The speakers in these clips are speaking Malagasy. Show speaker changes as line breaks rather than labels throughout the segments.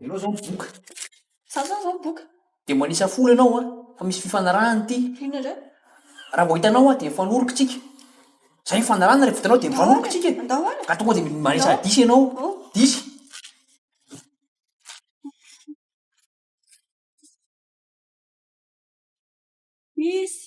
Ianao izao mivoka. Sasany izao
mivoka. Dia manisa folo
ianao an, fa misy fifanarahana ity. Inona indray?
Raha vao hitanao
aho dia mifanoroka isika. Izay mifanarahana rehefa vitanao dia mifanoroka isika. Andao ary. Ka tonga dia
manisa
disy ianao. Disy.
Disy.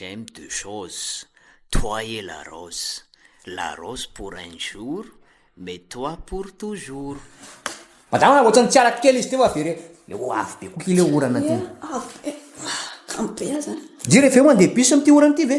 J'aime deux choses, toi et la rose, la rose pour un jour, mais toi pour toujours. Madama
ohatrany tsy arako kely izy teo avy re le ho avy be koa ty le orana ty. Avy be.
Ampy be aza. Dira ve mandeha bus
amin'ity orana ity ve?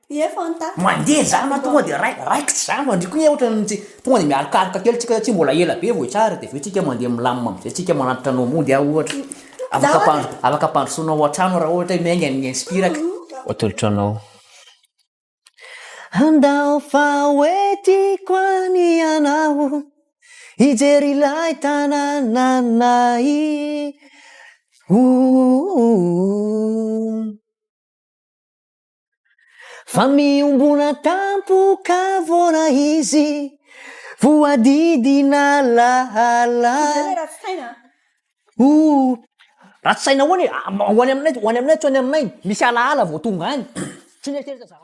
Mandeha zany ma tonga
de rai raikitra zany fa ndry ko anie otrany tsy tonga de mialokaroka kely tsika satsia mbola ela be vao hitsara de aveo tsika mandeha milamina amzay tsika manatitra anao mody ah ohatra afaka ampandro afaka ampandrosoanao ao antrano raha ohatra hoe miainga ny inspiraka atolotra anao Handao fa hoe tiako any ianao Hijery ilay tanànanay ooh. Fa miombona tampoka vôra izy voadidina lahala oh ratsy saina ahoana e ah, ho any aminay ho any aminay tsy ho any aminay misy alahala vao tonga any tsy mieritreritra zah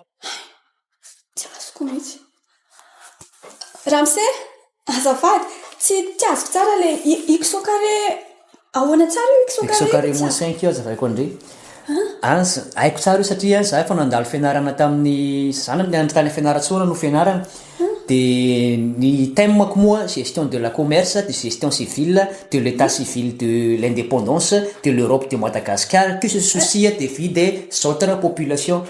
tsy
azoko mihitsy Ramose, azafady, tsy tsy azoko tsara ilay Iksokare, ahoana tsara io Iksokare? Iksokare moins cinq io
azavaiko andre. An, haiko tsara io satria an, za efa nandalo fianarana tamin'ny zanany nianatra tany Fianarantsoa no fianarana. Dia ny thème-ko moa gestion de la commerce, de gestion civile, de l'état civil de l'indépendance, de l'Europe de Madagascar, que ce souci des vies des autres populations.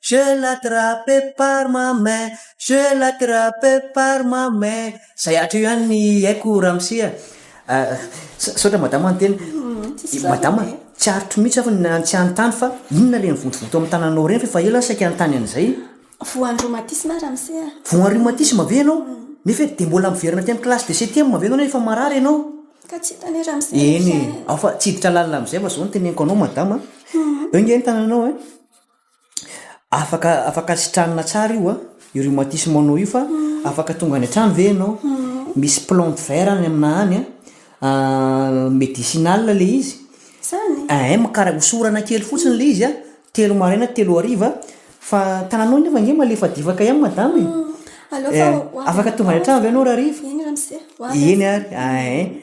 Je l'attrape par ma main, je l'attrape par ma main Zay hatr' eo ihany ny haiko ramose a! Misaotra madama niteny. Madama, tsy aritro mihitsy aho ny tsy hanontany fa inona ilay mivontovonto amin'ny tananao ireny fa efa ela aho saika hanontany an'izay? Voan'ny rhumatisme
aho ramose a! Voan'ny rhumatisme
ve ianao? Nefa dia mbola miverina aty amin'ny classe de septième ve ianao nefa efa marary ianao? Ka tsy hita anie
ramose izany e! Eny e! Ao fa
tsy hiditra lalina amin'izay fa izao no teneniko anao madama a! Eo ange ny tananao e! Afaka afaka sitranina tsara io a, io rhumatisme anao io fa afaka tonga any an-trano ve ianao? Misy plante vert any aminà any an, medicinal le izy, ehe
mikarak- osorana
kely fotsiny le izy a, telo maraina telo hariva, fa tananao nefa ange malefadefaka ihany madama e, afaka tonga any an-trano ve ianao r'ariva? Eny ary, ehe.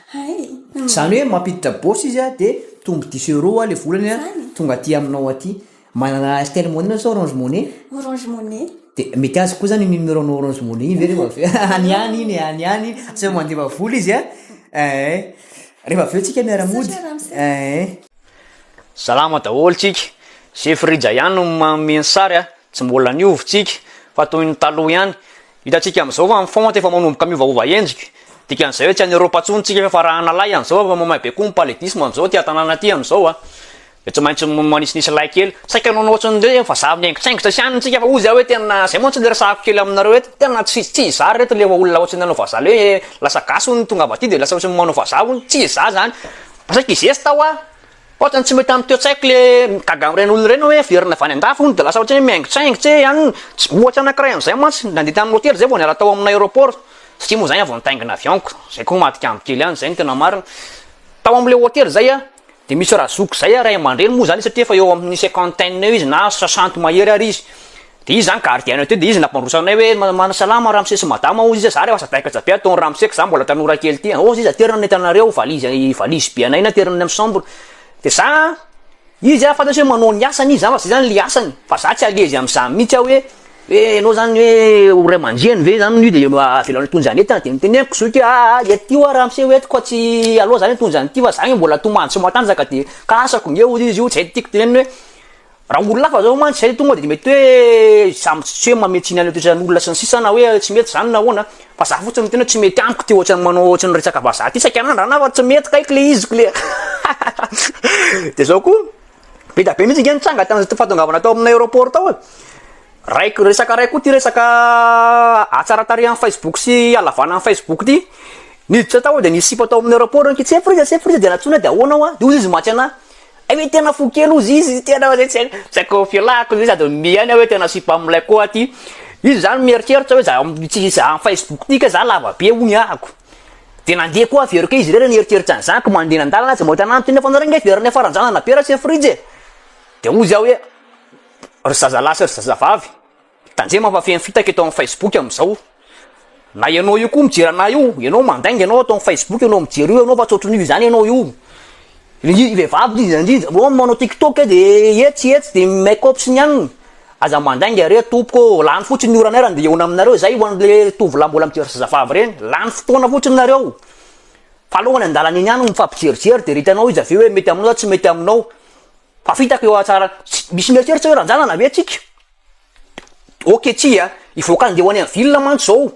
Hay! Zany hoe mampiditra bourse izy a, de mitombo dix euros a le volany a, tonga aty aminao aty. Manana Airtel Money nareo sa Orange Money? Orange Money. De mety azoko koa zany iny numéro anao Orange Money iny ve refa avy eo, any ihany iny e, any ihany iny, tsy mandefa vola izy a, ee. Refa avy eo tsika miara mody, ee.
Salama daholo tsika, Jefrija ihany no manome ny sary a, tsy mbola niova tsika fa toy ny taloha ihany. Hitantsika amin'izao fa ny font efa manomboka miovaova endrika. Dikan'izay hoe tsy any Europe intsony tsika fa rahana lahy an'izao efa mamay be koa ny paludisme amin'izao aty an-tanàna aty amin'izao a. Dia tsy maintsy manisinisy lay kely. Saika hanao anao ohatran'ny hoe vazaha mihaingotraingotra sy any tsika fa hozy aho hoe tena, izay moa tsy niresahako kely aminareo eto, tena tsy tsy izaho ry reto ilay olona ohatran'ny nanao vazaha ilay hoe lasa gasy hono ny tongava aty dia lasa ohatran'ny manao vazaha hono, tsy izaho izany. Mba saika hizesta aho a! Ohatrany tsy mety amin'ity an-tsaiko le migaga amin'ireny olona ireny hoe very navy any an-dafy hono de lasa ohatry ny hoe mihaingotsaingotsa e, any tsy ohatra anankiray an'izay mantsy nandeha tamin'ny hotely zay vao niala tao amin'ny aéroport satria moa zany vao nitaingina avion-ko, zay koa madika amiko kely any, zay no tena marina, tao amin'ilay hotely zay a de misy razoky zay a, ray aman-dreny moa zany izy satria efa eo amin'ny cinquantaine eo izy na soixante mahery ary izy, De izy zany gardien teo de izy nampandroso anay hoe ma- ma- salama ramose sy madama hozy izy a, za re aza taika jabe ataon'i ramose ka za mbola tanora kely ty a, hozy izy aterina ny entanareo, valise i valise be anay ny aterina ny amin'ny chambre, de za izy a fantatro hoe manao ny asany izy zany fa zay zany le asany, fa za tsy à l'aise am'zany mihitsy aho hoe hoe ianao zany hoe ho ray aman-dreny ve zany no de ma- avelao hitondra ny entana, de noteneniko zoky hoe aa ety io a ramose ho entiko fa tsy aleo za hitondra an'ity fa za nge mbola tomany sy matanjaka de ka asako nge hozy izy io, zay tiako tenenina hoe. Raha olona hafa zao mantsy zay tonga de mety hoe samy tsy hoe manome tsiny anle toetran'olona sy ny sisa na hoe tsy mety zany na ahoana fa za fotsiny miteny hoe tsy mety amiko ty ohatrany manao ohatrany resaka vazaha ty saika anandrana aho fa tsy mety kay kle izy kle de zao koa be da be mintsy nge nitranga tany zay fahatongavana tao amina aeroport tao e raiky resaka ray koa ty resaka hatsaratarihan'ny facebook sy halavana ny facebook ty niditra tao de nisipa tao amina aeroport kitsefy r'izay kitsefy r'izay de nantsoina de ahoana hoa de hoy izy maty anah Hay ve tena fo kely ozy izy tena oe tsy haiko, tsy haiko filàko izy sady mihaino aho oe tena sipa am'lay koa ty, izy zany mieritreritra oe za tsy za am facebook ty kay za lava be hono ahako, de nandeha koa very kay izy re nieritreritra an'zany ko mandeha eny an-dàlana aza mahita an'any toy ny efa nareo nge very niafaran-janana be raha tsy ny frijy e, de ozy aho oe ry zazalahy sy ry zazavavy. Tandremo fa feno fitaka eto amin'ny Facebook amin'izao. Na ianao io koa mijery anah io, ianao mandainga ianao ato amin'ny Facebook ianao mijery io ianao fa tsy ohatran'io izany ianao io. Ny vehivavy indrindra indrindra vao manao TikTok de etsy etsy de make up sy ny anona. Aza mandainga re tompoko ô, lany fotsiny ny oranay raha ndeha hihaona aminareo izay ho an'le tovolahy mbola mijery zazavavy ireny, lany fotoana fotsiny nareo. Fa aleo any an-dalana eny ihany no mifampijerijery de re hitanao izy avy eo hoe mety aminao sa tsy mety aminao. Fa fitaka eo ahatsara, misy mieritreritra hoe ranjanana ve tsika? Ok tsia a, hivoaka andeha ho any amin'ny ville mantsy zao,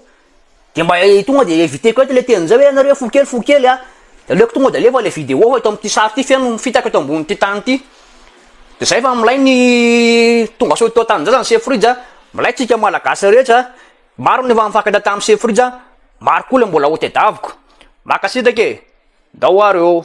de mba tonga de eviteko eto le teny zay hoe nareo fo kely fo kely a, de aleoko tonga de alefa le video fa eto amty sary ty feno fitaka eto ambonity tany ty, de zay fa milay ny tongasoa eto antanindrazana chef Rija a, milay tsika malagasy rehetra a, maro ny efa nifankahita tamy chef Rija, maro koa le mbola ho tedaviko, mankasitraka e, ndao ary ô.